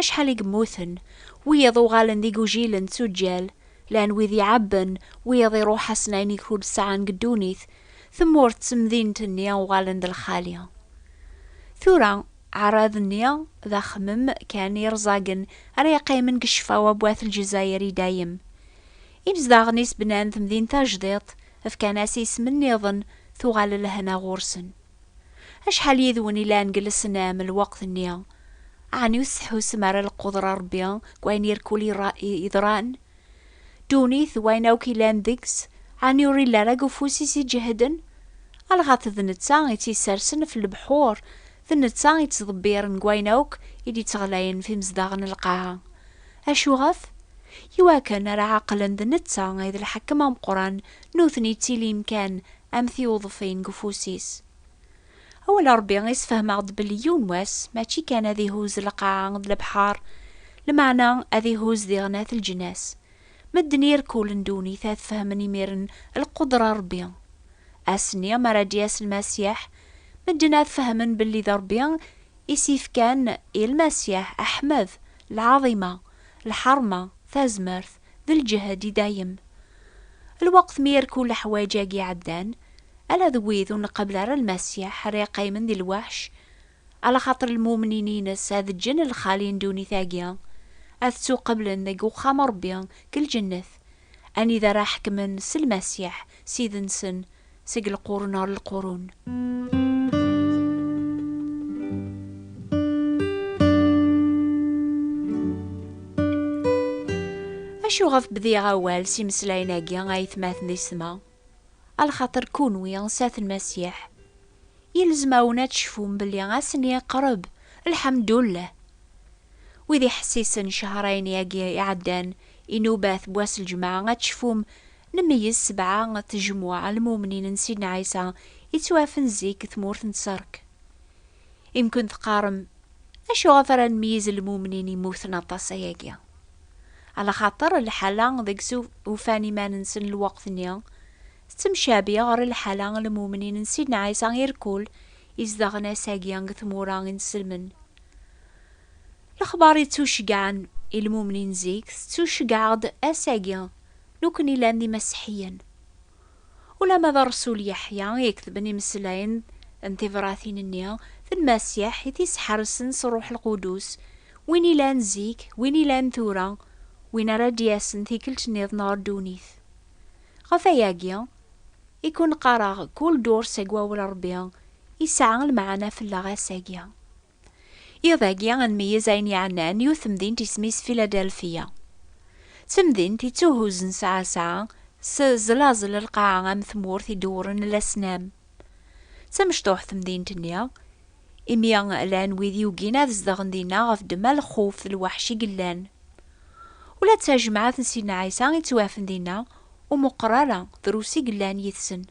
Acḥal i yemmuten, wiyaḍ uɣalen d igujilen d tuǧǧal, llan wid iɛebben, wiyaḍ iruḥ-asen ayen i ur sɛan deg ddunit, tmurt d temdint-nni uɣalen d lxali. Tura, aɛrab-nni d axemmem kan irẓagen ara yeqqimen deg ccfa wa n wat Lezzayer i dayem. Imezdaɣen-is bnan temdint tajdiṭ, fkan-as isem nniḍen, tuɣal lehna ɣur-sen. Acḥal yid-wen i llan deg lesnam lweqt-nni? Ɛni ur tettḥusum ara lqudra n Ṛebbi deg wayen irkul yeḍran? Ddunit d wayen akk yellan deg-s, ɛni ur illa ara deg ufus-is iǧehden? Alɣet d netta i tt-yessersen ɣef lebḥur, d netta i tt-ḍebbiren deg wayen akk i d-ittɣlayen ɣef imezdaɣ n lqaɛa. Acuɣef? Iwakken ara ɛeqlen d netta i d lḥakem ameqqran nutni ttilin kan am tiwḍfin deg ufus-is. Awal Ṛebbi i sfehmeɣ-d belli yiwen wass mačči kan ad ihuzz lqaɛa d lebḥeṛ, lmeɛna ad ihuzz diɣen at lǧnas. Medden irkulen ddunit ad fehmen imiren lqudra n Ṛebbi. Ass-nni mi ara d-yas Lmasiḥ, medden ad fehmen belli d Ṛebbi i s-ifkan i Lmasiḥ aḥmed, lɛaḍima, lḥeṛma, tazmert, d lǧehd i dayem. Lweqt mi irku leḥwaǧ-agi ɛeddan, ala d wid ur nqabel ara Lmasiḥ ara yeqqimen di lweḥc, alaxaṭer lmumnin-ines ad ǧǧen lxali n ddunit-agi, ad ttuqablen deg uxxam n Ṛebbi deg lǧennet, anida ara ḥekmen s Lmasiḥ, Ssid-nsen, seg lqurun ɣer lqurun. Acu ɣef bdiɣ awal s imeslayen-agi a yetmaten di ssma? A lxaṭer kunwi sat n Masiḥ, yelzem-awen ad tecfum belli ass-nni iqreb, lḥemdullah! Wid iḥessisen cehṛayen-agi iɛeddan, inubat n wass n lǧemɛa, ad tecfum N meyyez sebɛa tejmuɛ n lmumnin n Sidna Ɛisa i ttwaɛfen zik deg tmurt n Tserk. Imkun teqqarem, Acu ɣef ara nmeyyez lmumnin yemmuten aṭas ayagi? Ala xaṭer lḥala deg s ufan iman-nsen lweqt-nni tettemcabi ɣer lḥala n lmumnin n Sidna Ɛisa irkul izedɣen ass-agi deg tmura i nselmen. Lexbar yettuceggɛen i lmumnin zik tettuceggɛeɣ-d ass-agi Nukni llan d imaseḥiyen. Ulama d Rsul Yeḥya i iketben imeslayen n tibratin-nni d Lmasiḥ i t-isḥersen s Rruḥ Lqudus, win ilan zik, win ilan tura, win ara d-yasen tikkelt niḍen ɣer ddunit. Ɣef wayagi i ken-qqareɣ kul durs seg Wawal Rebbi yesɛa lmeɛna fell-aɣ ass-agi. Iḍ-agi ad nmeyyez ayen yeɛnan yiwet temdint isem-is Philadelphia. D temdint ittuhuzzen sɛa-sɛa s ẓlaẓel n lqaɛa am tmurt idewwren lasnam. D tamecṭuḥt temdint-nni, imi llan wid yugin ad zedɣen dinna ɣef ddemma lxuf d lweḥc i yellan. Ula d tajemɛet n Sidna Ɛisa i ttwafen dinna ur meqqer ara drus i yellan yid-sen,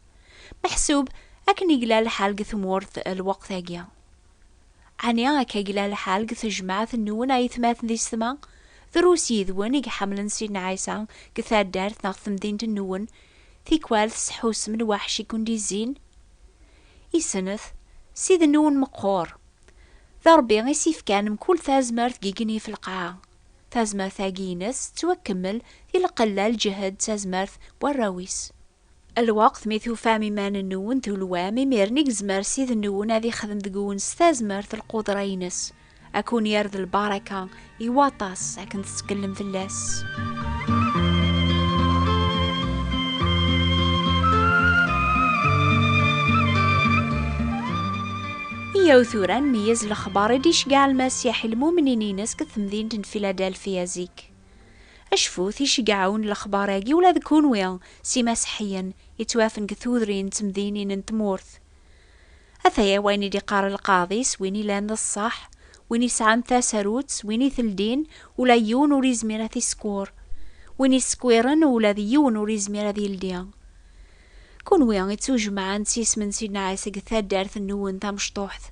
meḥsub akken i yella lḥal deg tmurt lweqt-agi. Ɛni akka i yella lḥal deg tejmaɛt nwen a yetmaten di setma? Drus yid-wen i iḥemmlen Sidna Ɛisa deg taddart neɣ temdint nwen, tikwal tesḥusem lwaḥc i ken-d-izzin? I snat, Ssid nwen meqqur. D Rebbi i s-ifkan mkul tazmert deg yigenni ɣef lqaɛa. Tazmert-agi ines tettwakemmel di lqella, lǧehd d tazmert n warraw-is. Lweqt, mi tufam iman-nwen tulwam, imiren i yezmer Ssid-nwen ad ixdem deg-wen s tazmert lqudra-ines, a kun-yerr d lbaraka i waṭas akken tettkellem fell-as. Yyaw tura ad nmeyyez lexbar i d-iceggeɛ Lmasiḥ i lmumnin-ines deg temdint n Philadelphia zik. Acfut iceggeɛ-awen n lexbar-agi ula d kunwi s imaseḥiyen yettwafen deg tudrin d temdinin n tmurt. Ataya wayen i d-iqqar lqaḍi s win ilan d ṣṣeḥ, win isɛan tasarut s win iteldin ula yiwen ur izmir ad t-isekwer, win isekwiren ula d yiwen ur izmir ad yeldi. Kunwi i ttujemɛen s yisem n Sidna Ɛisa deg taddart-nwen tamecṭuḥt,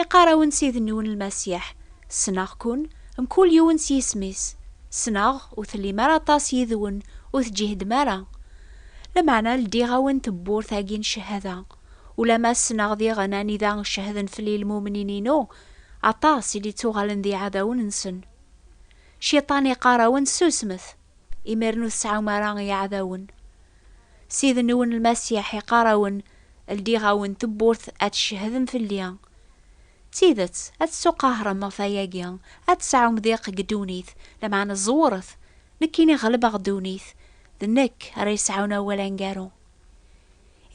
iqqar-awen Ssid-nwen Lmasiḥ, Ssneɣ-ken, mkul yiwen s yisem-is, ssneɣ ur tellim ara aṭas yid-wen, ur teǧǧihdem ara. Lameɛna ldiɣ-awen tewwurt-agi n cchada, ulamma ssneɣ diɣen anida cehden fell-i lmumnin-inu, aṭas i d-ittuɣalen d iɛdawen-nsen. Cciṭan iqqar-awen susmet! Imiren ur tesɛum ara iɛdawen. Ssid-nwen Lmasiḥ iqqar-awen, Ldiɣ-awen tewwurt ad tcehhedem fell-i. D tidet, ad tettuqahrem ɣef wayagi, ad tesɛum diq deg ddunit, lameɛna ẓewret, nekkini ɣelbeɣ ddunit, d nekk ara yesɛun awal aneggaru.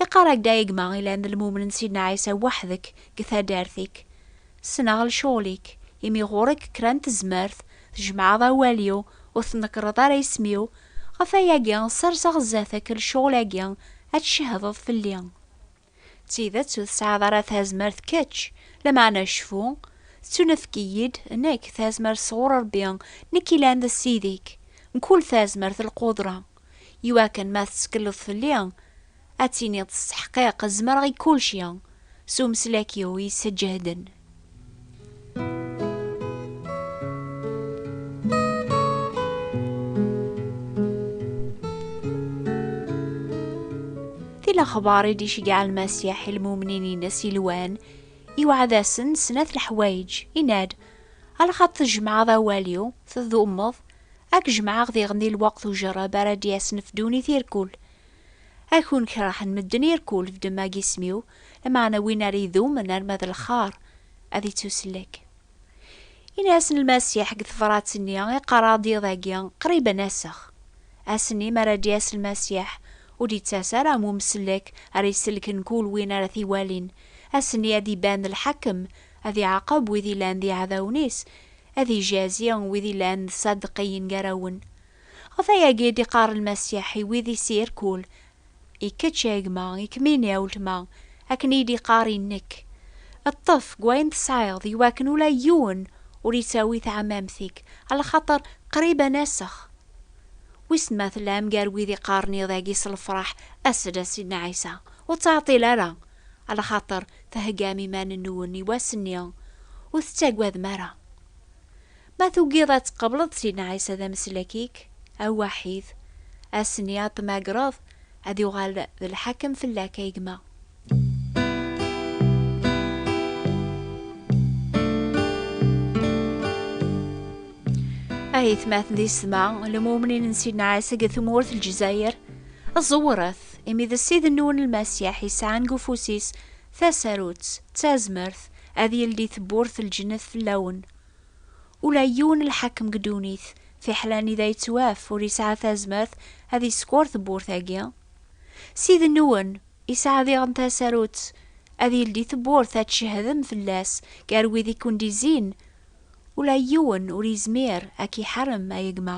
Iqarag-d a gma ilan d lmumen n Sidna Ɛisa weḥdek g taddart-ik. Sneɣ lecɣel-ik, imi ɣur-k kra n tezmert, tjemɛeḍ awal-iw, ur tnekreḍ ara isem-iw, ɣef wayagi serseɣ zdat-k lecɣel-agi ad tcehdeḍ fell-i. D tidet ur tesɛiḍ ara tazmert kečč, lameɛna cfu, tettunefk-iyi-d nekk tazmert sɣur Rebbi, nekk ilan d Ssid-ik, mkul tazmert d lqudra. iwakken ma tettekleḍ fell-i, ad tiniḍ s teḥqiq zemreɣ i kulci, s umeslak-iw yesseǧehden. Di lexbar i d-iceggeɛ Lmasiḥ i lmumnin-ines yelwan, iweɛɛed-asen snat leḥwayeǧ, yenna-d, Alxaṭ tjemɛeḍ awal-iw, tdummeḍ, Ad k-jemɛeɣ diɣen di lweqt ujerreb ara d-yasen fdunit irkul. A kun kerhen medden irkul fdem ag isem-iw, lameɛna win ara idumen arma d lxar ad ittusellek. Ini-asen Lmasiḥ deg tebrat-nni i qqareɣ-d iḍ agi qrib ad nasex. Ass-nni mi ara d-yas Lmasiḥ ur d-ittas ara am umsellek ara isellken kul win ara t-iwalin, ass-nni ad iban lḥakem Ad iɛaqeb wid yellan d iɛdawen-is, ad ijazi wid yellan d Ṣadeqiyen gar-awen. Ɣef wayagi i d-iqqar Lmasiḥ i wid i s-irkul, I kečč a gma, i kemmini a weltma, akken i yi-d-iqqar i nekk, Ṭṭef deg wayen tesɛiḍ, i wakken ula yiwen ur ittawi taɛmamt-ik, alaxaṭer qrib ad nasex. Wissen ma tellam gar wid iqqaren iḍ-agi s lefraḥ, As-d a Sidna Ɛisa, ur ttɛeṭṭil ara, alaxaṭer theggam iman-nwen i wass-nni, ur tettagadem ara. Ma tugiḍ ad tqableḍ Sidna Ɛisa d ameslak-ik awaḥid, ass-nni ad t-tmagreḍ, ad yuɣal d lḥakem fell-ak a gma. A yetmaten di sma, lemumnin n Sidna Ɛisa deg tmurt Lezzayer, ẓewret! imi d Ssid n wen Lmasiḥ yesɛan deg ufus-is tasarut d tazmert ad yeldi tewwurt n lǧennet fell-awen. Ula yiwen lḥakem deg ddunit, fiḥel anida yettwaf, ur yesɛi tazmert ad yeskeṛ tewwurt-agi. Ssid n wen yesɛa diɣen tasarut ad yeldi tewwurt ad tcehdem fell-as gar wid i ken-d-izzin, ula yiwen ur yezmir ad k-iḥarem, a gma.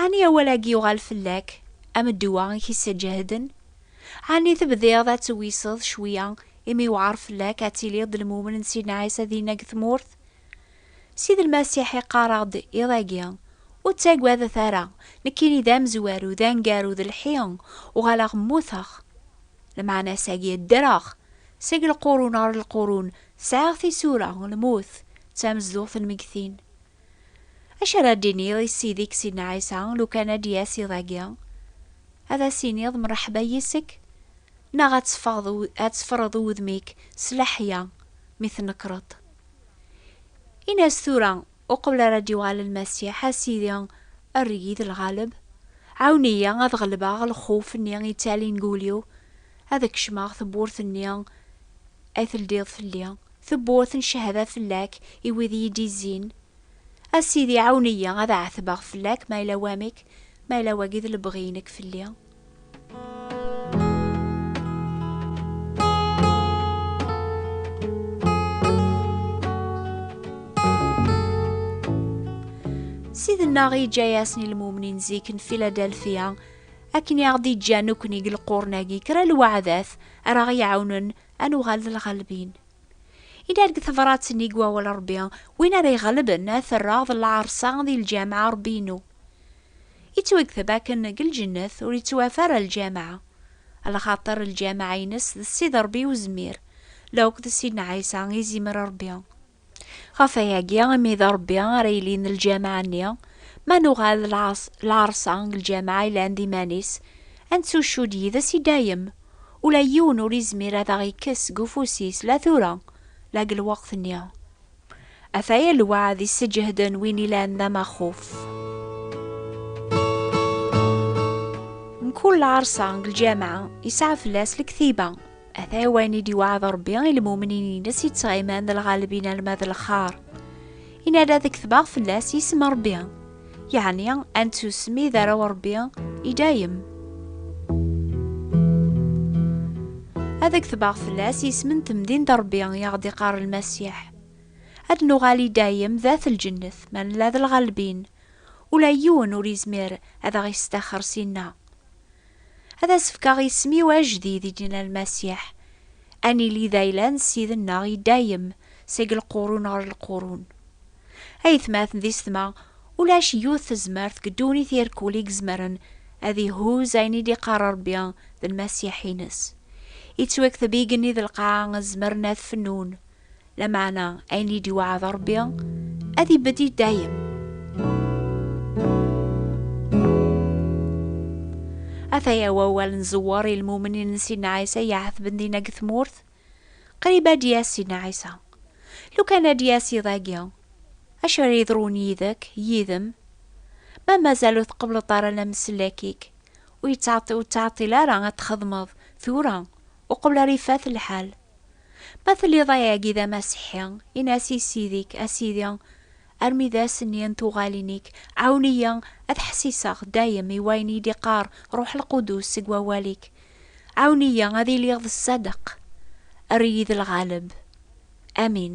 Ɛni awal-agi yuɣal fell-ak am ddwa i k-isseǧehden? Ɛni tebdiḍ ad tewiseḍ cwiya imi yewɛer fell-ak ad tiliḍ d lmumen n Sidna Ɛisa dinna deg tmurt? Sidi Lmasiḥ iqqar-aɣ-d iḍ-agi, Ur ttagadet ara, nekkini d amezwaru, d aneggaru, d lḥi, uɣaleɣ mmuteɣ. Lmeɛna-s-agi, ddreɣ! Seg lqurun ɣer lqurun, sɛiɣ tisura, lmut d tamezduɣt n lmegtin. Acu ara d-iniɣ i Ssid-ik Sidna Ɛisa lukan ad d-yas iḍ-agi? Ad as-iniḍ mreḥba yis-k? Neɣ ad teffɣeḍ ad teffreḍ udem-ik s leḥya mi tnekkreḍ? Ini-as tura uqbel ara d-yuɣal Lmasiḥ, A Sidi, err-iyi d lɣaleb. Ɛawen-iyi ad ɣelbeɣ lxuf-nni yettalin deg wul-iw, ad kecmeɣ tewwurt-nni ay teldiḍ fell-i. Tewwurt n cehba fell-ak i wid iyi-d-izzin. A Sidi, ɛawen-iyi ad ɛetbeɣ fell-ak ma yella wamek, ma yella wagi d lebɣi-inek fell-i. Ssid-nneɣ yeǧǧa-yasen i lmumnin zik n Filadelfiya akken i aɣ-d-iǧǧa nekkni deg lqurn-agi kra n lweɛdat ara aɣ-iɛawnen ad nuɣal d lɣalbin. Inna deg tebṛat-nni deg wawal Ṛebbi, win ara iɣelben ad t-rreɣ d lɛerṣa di lǧameɛ Ṛebbi-inu. Ittwagteb akken deg lǧennet ur ittwaaf ara lǧameɛ. Lxaṭer lǧameɛ-ines d Ssid Ṛebbi Uzmir, la akk d Ssidna Ɛisa, Izimer Ṛebbi. Ɣef wayagi imi d Ṛebbi ara yilin d lǧameɛ-nni, ma nuɣal d lɛerṣa n lǧameɛ yellan d iman-is, ad nettuccudd yid-s i dayem. Ula yiwen ur izmir ad aɣ-ikkes seg ufus-is la tura, la deg lweqt-nni. Ataya lweɛd yesseǧehden win ilan d amaxuf. Mkul lɛerṣa n lǧameɛ yesɛa fell-as lektiba. ata wayen i d-iwɛed Rebbi i lmumnin-ines yettɣiman d lɣalbin alma d lxar. Inna-d ad ketbeɣ fell-as isem n Rebbi, yeɛni ad nettusmi d arraw n Rebbi i dayem. Ad ketbeɣ fell-as isem n temdint n Rebbi i aɣ-d-iqqar Lmasiḥ. Ad nuɣal i dayem d at lǧennet ma nella d lɣalbin, ula yiwen ur yezmir ad aɣ-yesṭaxxer syenna. Ad as-fkeɣ isem-iw ajdid i d-yenna Lmasiḥ, ad nili d ayla n Ssid-nneɣ i dayem, seg lqurun ɣer lqurun. Aytmaten d isetma, ulac yiwet tezmert deg ddunit irkul i izemren ad ihuz ayen i d-iqqar Rebbi d Lmasiḥ-ines. Ittwakteb igenni d lqaɛa zemren ad fennun, Lameɛna ayen i d-iweɛɛed Ṛebbi ad ibedd i dayem. Ataya wawal n Ẓewwer i lmumnin n Sidna Ɛisa iɛetben dinna deg tmurt. Qrib ad d-yas Sidna Ɛisa. Lukan ad d-yas iḍ-agi, acu ara yeḍrun yid-k, yid-m? Ma mazal ur tqebbleḍ ara lamsellak-ik, ur yettɛeṭṭil ara ad t-txedmeḍ tura, uqbel ara ifat lḥal. Ma telliḍ ayagi d amasiḥi, in-as i Ssid-ik, A Sidi, armi d ass-nni n tuɣalin-ik, ɛawen-iyi ad ḥessiseɣ dayem i wayen i d-iqqar Ṛuḥ Lqudus seg wawal-ik. Ɛawen-iyi ad iliɣ d ṣṣadeq. Err-iyi d lɣaleb. Amin.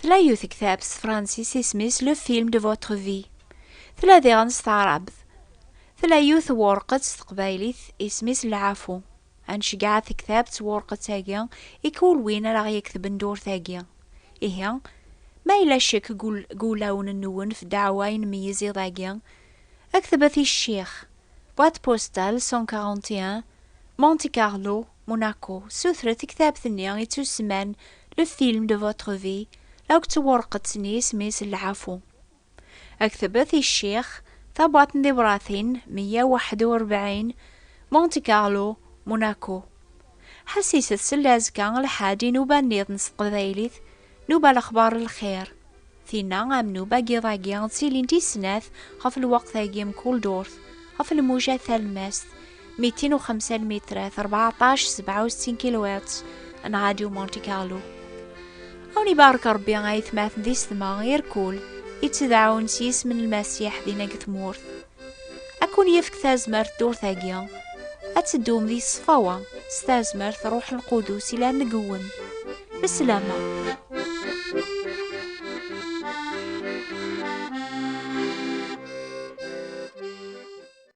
Tla yiwet ktab s tefransist isem-is Le film de votre vie. Tla diɣen s taɛrabt. Tla yiwet n wureqqet s teqbaylit isem-is Lɛafu. Ad nceggeɛ tektabt s wureqqet-agi i kul win ara ɣ-yektben dewrt-agi. Ihi, ma yella ccek deg wulawen-nwen f ddeɛwa i nmeyyez iḍ-agi, ktbet i Ccix, Boîte postale 141, Monte-Carlo, Monaco, sutret i ktabt-nni yettusemman Le film de votre vie, la deg tewreqet-nni isem-is Lɛafu. Ad ktabet i Ccix, Tabwaṭ n tibṛatin, meyya waḥed u rebɛin, Monte Carlo, Monaco. Ḥassiset seld azekka lḥaǧ inuba-nniḍen s teqbaylit, Nuba lexbar n lxir. Tinna am nuba n yiḍ-agi ttilint i snat ɣef lweqt-agi mkul durt, ɣef lmuja talemmast, mitin u xemsa lmitrat, rbeɛṭac, sebɛa u settin kilwiṭs, n Radio Monte Carlo. A wen ibarek Rebbi a aytmaten di setma, irkul, ittedɛun s yisem n Lmasiḥ dinna deg tmurt. Ad kun-yefk tazmert ddurt-agi, ad teddum di ṣṣfawa s tazmert Ṛuḥ Lqudus yellan deg-wen. Beslama.